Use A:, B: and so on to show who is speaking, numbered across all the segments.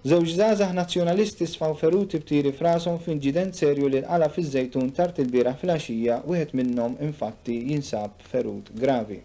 A: Żewġ żgħażagħ Nazzjonalisti sfaw feruti b'tiri f'rashom f'inġident serju li nqala' fiż-Żejtun tard ilbieraħ filgħaxija, wieħed minnhom infatti jinsab ferut gravi.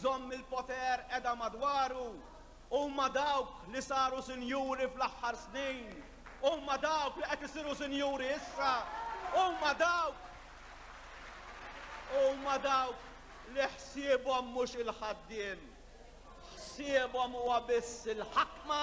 A: żomm il-poter qiegħda madwaru. Huma dawk li saru sinjuri fl-aħħar snin. Huma dawk li qed isiru sinjuri issa. Huma dawk huma dawk li ħsiebhom mhux il-ħaddiem. Ħsiebhom huwa biss il-ħakma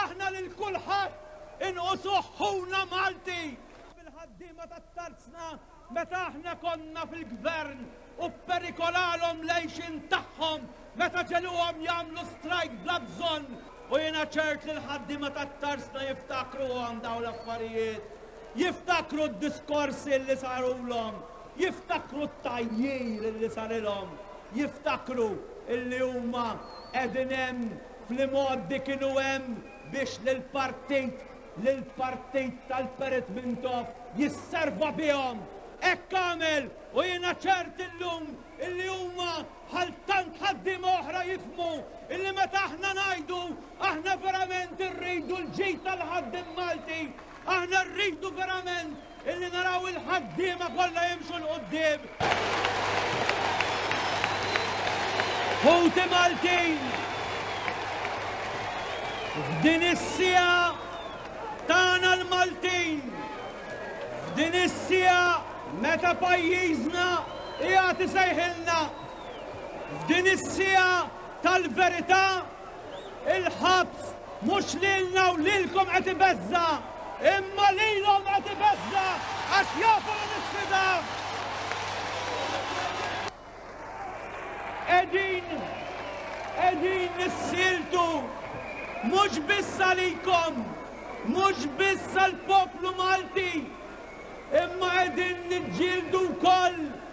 A: Aħna lil kulħadd inqusuh ħuna Malti! Fil-ħaddiema tat-tarzna meta aħna konna fil-gvern u pperikolalhom l-għejxien tagħhom meta ġegħluhom jagħmlu strajk bla bżonn u jiena ċert li l-ħaddiema tat-tarzna jiftakruhom dawn l-affarijiet, jiftakru d-diskorsi li sarulhom, jiftakru t-tgħajjir li sarilhom, jiftakru li huma qegħdin hemm Fl-imgħoddi kienu hemm biex lill-partit, lill-partit tal-Perit Mintoff jisserva bihom. Hekk għamel u jiena ċert illum illi huma bħal tant ħaddiema oħra jifhmu illi meta aħna ngħidu aħna verament irridu l-ġid tal-ħaddiem Malti, aħna rridu verament Illi naraw il-ħaddiema kollha jimxu l-qudiem. Ħuti Maltin! Din is-sija tagħna l-Maltin! Din is-sija meta pajjiżna jagħti sejħilna! F'din is-sija tal-verità Il-ħabs mhux lilna u lilkom qed ibeżża', imma lilhom qed ibeżża' għax jafu li nisfidaw. Qegħdin qegħdin nissiltu mhux biss għalikom, mhux biss għall-poplu Malti, imma qegħdin niġġieldu wkoll